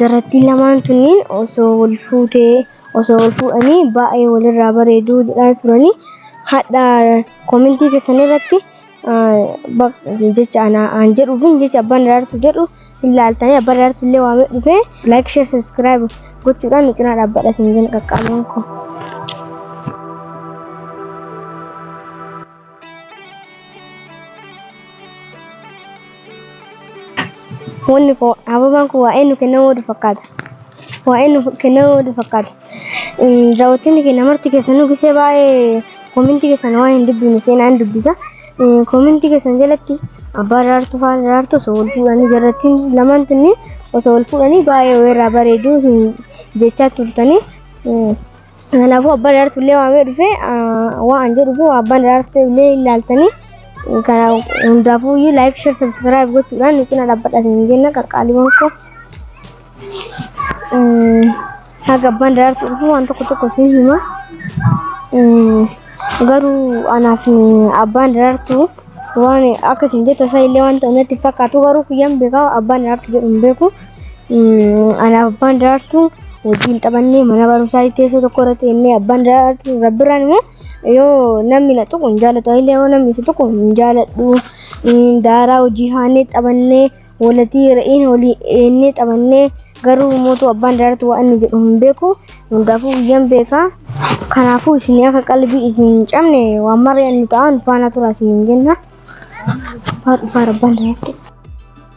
Jarrattiin lamaan tunniin osoo wal fuutee osoo wal fuudhanii baay'ee walirraa bareeduu jedhaa turanii hadha komentii keessan irratti jecha aan jedhuu fi jecha abbaan daraartu jedhu hin laaltanii abbaan daraartu illee waamee dhufee like share subscribe gochuudhaan nu cinaa dhaabbadha isin jin qaqqaamaan koo. Wanni koo ababaan kun waa eenyu kennamuu wadu fakkaata. Waa eenyu kennamuu wadu fakkaata. Daawwattoonni keenya marti keessanuu gisee baay'ee koomentii keessan waan hin dubbifne seenaa hin dubbisa. Koomentii keessan jalatti abbaa daraartuu fi haadha daraartuu osoo wal fuudhanii jarrattiin lamaan tunniin osoo wal fuudhanii baay'ee weerraa bareedu isin jechaa turtanii. Kanaafuu abbaan daraartuu illee waamee dhufee waan an jedhuuf abbaan daraartuu illee ilaaltanii kana hundaafuu iyyuu laayik sheer sabskiraayib gochuudhaan nu cina dhaabbadha isin jenna qaqqaaliiwwan koo. Haga abbaan daraartuu dhufuu waan tokko tokko isin hima. Garuu anaaf abbaan daraartuu waan akka isin jettan isaa illee waan ta'u natti fakkaatu garuu kiyyaan beekaa abbaan daraartuu jedhu hin beeku. Anaaf abbaan daraartuu wajjin taphannee mana barumsaa teessoo tokko irratti jennee abbaan daraartuu rabbiraan immoo yoo namni na tuqu hin jaalatu illee yoo namni si tuqu hin jaaladhu daaraa hojii haannee taphannee walatii re'iin olii eennee taphannee garuu mootu abbaan daraartuu waan inni jedhu hin beeku hundaafuu guyyaan beekaa kanaafuu isin akka qalbii isin hin cabne waan maree inni ta'an faana turaa isin hin jenna. Faa dhufaa rabbaan daraartuu.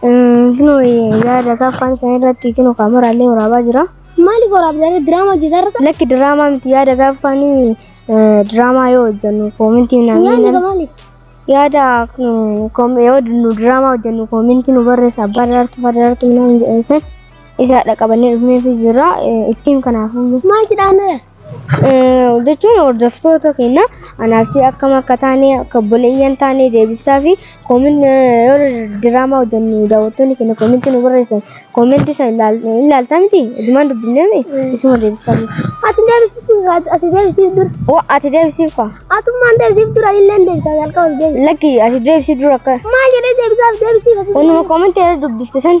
Kunoo yaada akka afaan isaanii irratti kunoo kaameraallee waraabaa jira. Maaliif waraabdaa diraamaa hojjetarra? Lakki diraamaa miti yaada akka afaan diraamaa yoo hojjennu koomintii Yaadni naannoo maaliif? yaada kun kom- yoo nu diraamaa hojjennu koomintii nu barreessa abbaa daraartuu abbaa daraartuu minaan jedhanisan isaadha qabannee dhufneefi jira ittiin kanaafuu Maal jedhaan jechuun hordoftoota keenya anaasii akkam akka taane akka obboleeyyan taane deebistaa fi koomin yoo diraamaa hojjennu daawwattoonni keenya koominti nu barreessan koominti san ilaaltaa miti dhumaan dubbiname isuma deebistaa miti. Ati deebisitu ati deebisiif dura. Oo ati deebisiif kwa Atummaan deebisiif dura illee deebisaa jalqaba deebisa. lakki ati deebisii dura akka Maal jedhee deebisaaf deebisiif ati. wanuma koominti irra dubbifte san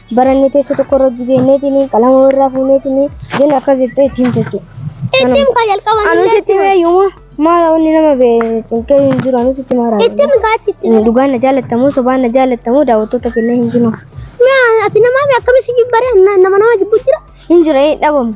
barannee teessoo tokko irra hojjeteetiin qalama irraa fuuneetiin jenna akkas jettee itti himte jechuudha. Itti himkaa jalqaba. Anus itti himee yooma maala wanni nama beeku hin jiru anus itti maara. Itti himkaa achitti. Dhugaan na jaalattamu sobaan na jaalattamu daawwattoota kennee hin jiru. Ati namaa akkamitti jibbare nama nama jibbu jira. Hin jira dhabamu.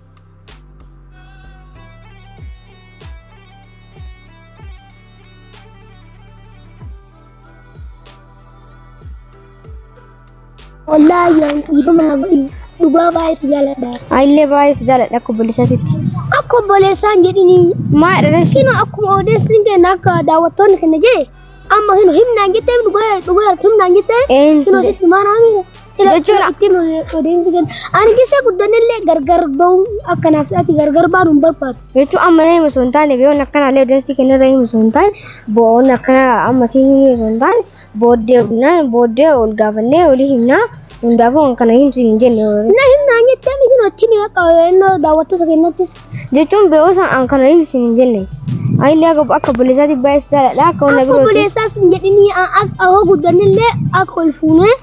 Wallaahi yaa dhiifama naa godhi. Dhugaa baay'ee si jaaladha. Ayillee baay'ee si jaaladha akka obboleessaatitti. Akka obboleessaan jedhini. Maa dhalash Kino akkuma odeessin kenna akka daawwattoonni kenna jee amma kino himnaan jettee dhugaa dhugaa himnaan jettee Eenyu kino sitti maanaa miira. jechuudha. Itti odeessi kenna. Ani keessa guddanillee gargar ba'uu akkanaaf ati gargar baanu hin barbaadu. Jechuun amma na himu osoo hin taane biyyoon akkanaallee odeessi kenna irra himu osoo hin taane bo'oon akkana amma si himu osoo hin taane booddee himnaan booddee ol gaafannee olii himnaa hundaafuu kan kana himsi hin jenne warri. Na himnaan jettee miti nutti ni haqa yeroo daawwattoota keenyattis. Jechuun biyyoon san an kana himsi hin jenne. Ayillee akka akka buleessaatti baay'ee si jaaladha akka wanna Akka birooti. buleessaas hin jedhinii akka hoo guddanillee akka ol fuunee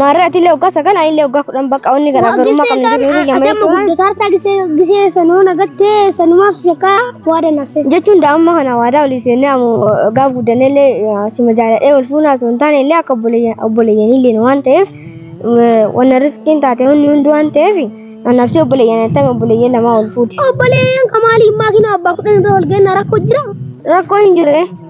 Maarree atillee waggaa sagal anillee waggaa kudhan bakka wanni garaagarummaa qabna jiru irra jamanii Adamma turan. guddataa hartaa gisee gisee sanuu nagattee sanumaaf shakkaa waa danasee. Jechuun daa'imma kana waadaa olii seennee amu gaaf guddannellee sima jaaladhee wal fuunaa osoo hin taane illee akka obboleeyyanillee waan ta'eef wanna riskiin taate hundi hundi waan ta'eef annabsee obboleeyyan attame obboleeyyan lamaa wal fuuti. Obboleeyyan kamaaliin maakiinaa abbaa kudhan irra wal geenna rakkoo jira. Rakkoo hin jirre.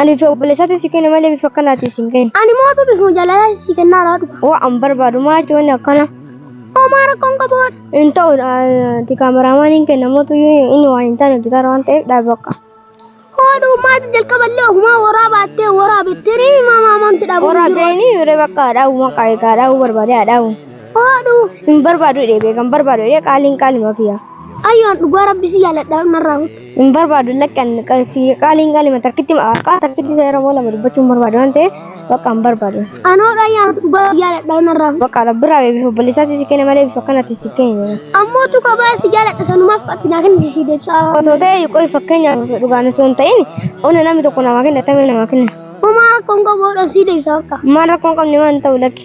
Ani fi obboleessatti si kenne malee bifa akkanaatiin si hin kenne. Ani mootu bifuma jaalalaa si kennaa irraa dhuga. Oo an barbaadu maa jechuun akkana. Homaa rakkoon qabu. Hin ta'u ati kaameramaan hin kenna mootu inni waan hin taane hojjetaa waan ta'eef dhaabbaqa. Hooduu maati jalqaballee ofumaa waraa baattee waraa bittirii himaa maamanti dhabu. Waraa beeni yeroo bakka dhaa'u maqaa egaa dhaa'u barbaadee dhaa'u. Hooduu. Hin barbaadu jedhee beekan barbaadu jedhee qaaliin qaalima kiyya. Ayyoon dhugaa rabbi si jaaladha narraa hin barbaadu lakkan qaaliin qaalima takkitti maqaa takkitti seera moo lama dubbachuu hin barbaadu waan ta'eef bakka hin barbaadu. Anoo dhayyaa dhugaa jaaladha narraa. Bakka rabbiraa eebbif obboleessaatti si kenne malee bifa kanatti si kenne. Ammoo tu kabaa si jaaladha sanumaaf qaxxinaa kenna si deebsaa. Osoo ta'e qoy fakkeenyaaf osoo dhugaan osoo hin ta'in ona namni tokko namaa kenna tamee namaa kenna. Homaa rakkoon qabu hodhan si deebsaa bakka. Maal rakkoon qabne waan ta'u lakki.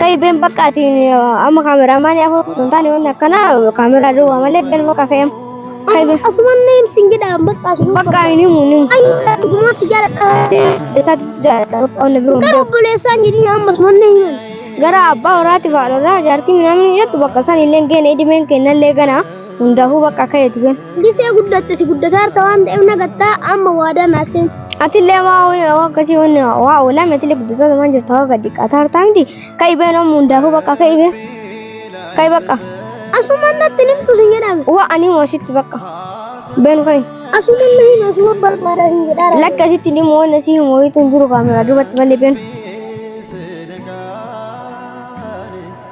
Kai ben bakka ati amma kaameraamaani afur sun taane wanni akkana kaameraa duwwaa malee ben bakka fe'em. Kai ben Asuman neem sin jedhaan bakka asuman. bakka hin himu hin himu. Ani dhugumaa si jaaladha. Isaatis jaalladha bakka wanna biroo hin Gara beeku. obboleessaan jedhini amma asuman na himan. Gara abbaa warraatiif haadha warraa jaartii minaamin jettu bakka san illee hin geene idimeen kennallee ganaa. Hundaafuu bakka akka eeti ben. Gisee guddatte si guddataarta waan ta'eef nagattaa amma waadaa naa seeni. Atillee maa waan akkasii waan waa oolame atillee guddataarta waan jirtu hawa gadi qaataarta miti ka'i ben amma hundaafuu bakka ka'i ben. Ka'i bakka. Asumaan natti nimtu sin jedhame. Waa ani moo sitti bakka. Ben ka'i. Asumaan na hima asuma barbaada sin jedhaara. Lakki asitti ni moo na si himu wayitu hin jiru kaamera duubatti malee ben.